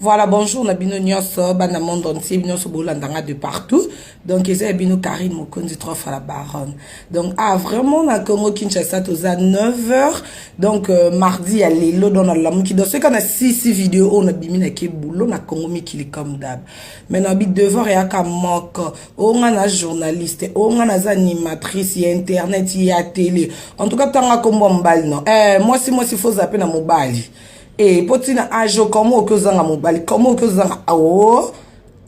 Voilà, bonjour na bino nyonso, bana monde entier, bino nyonso bolanda nga de partout. Donc eza ya bino Karine Mokonzi trop à la baronne. Donc ah vraiment na Congo Kinshasa toza 9h. Donc euh, mardi ya lelo dans la lamuki. Donc ce qu'on a 6 6 vidéos on a bimi na ke boulot na Congo mikili comme d'hab. Mais na bi devoir ya ka moko. o nga na journaliste o nga naza animatrice ya internet ya tele en tout cas tanga nkombo ya mobali no eh, mwasi mwasi foza mpe na mobali e mpo ntina age okoma oki ozanga mobali koma oki ozanga ao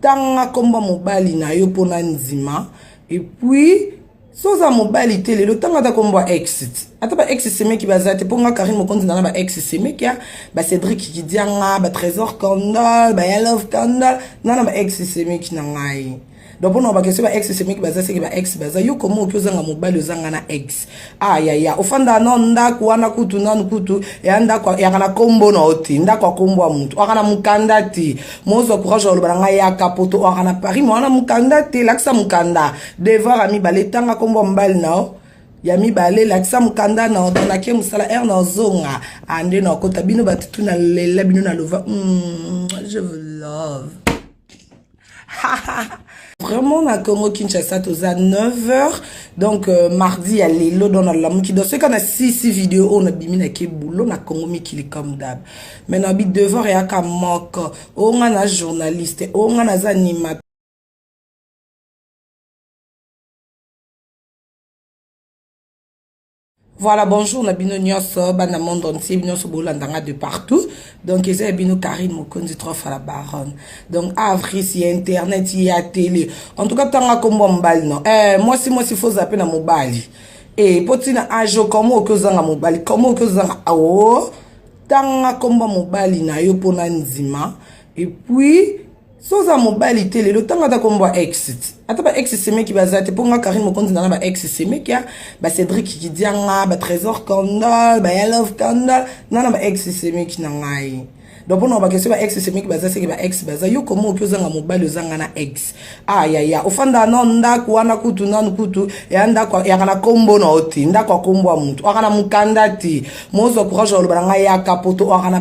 tanga nkombo ya mobali na yo mpo na ndima epuis so oza mobali te lelo ntango ata kombo ya ex ata ba ex semeki baza te mpo nga karine mokonzi na na ba ex semeki ya ba cédrik kidianga ba trésor candal ba yalove candal na na ba ex semeki na ngai donc mpona bakestion ba ex semeki baza seke ba ex baza yo koma oki ozanga mobali ozanga na ex ayaya ah, ofanda na ndako wana kutu nanu kutu ya ndako yaka na kombo na yo te ndako ya kombo ya motu aka na mokanda te mozwa courage ya oloba na ngai yaka poto aka na paris ma wana mokanda te lakisa mokanda Devoir ya mibale, tanga kombo ya mobali na yo ya mibale lakisa mokanda na odo nake mosala ere na ozonga ande ah, na okota bino bato tu na lela bino na lova mm, je vous love vraiment na congo kinshasa toza 9 heures donc euh, mardi ya lelo don nalamuki donc soki ka na sisi video oyo nabimi nake boulot na congo mikili comme dab mais nabi devoir eyaka moko oyo nga na journaliste oyo nga naza animateur Voilà, bonjour na bino nyonso, bana monde entier, bino nyonso bolanda nga de partout. Donc eza ya bino Karine Mokonzi trop à la baronne. Donc avril si internet, il y a télé. En tout cas tanga kombo mobali non. Eh moi si moi si faut zapper na mobali. Eh potina ajo comment okozanga mobali, comment okozanga awo. Tanga kombo mobali na yo pona nzima. Et puis so oza mobali te lelo ntango ata kombo ya ex ata ba ex semeki baza te mpo nga karine mokonzi na na ba ex semeki ya ba cédrik kidianga ba trésor candal ba yalove candal na na ba ex semeki na ngai donc mpona obake so ba ex semeki baza seke ba ex baza yo koma oki ozanga mobali ozanga na ex ayaya ah, ofanda no ndako wana kutu nanu kutu ya ndako yaka na kombo na yo te ndako ya kombo ya motu aka na mokanda te mozwa courage ya oloba na ngai yaka poto aka na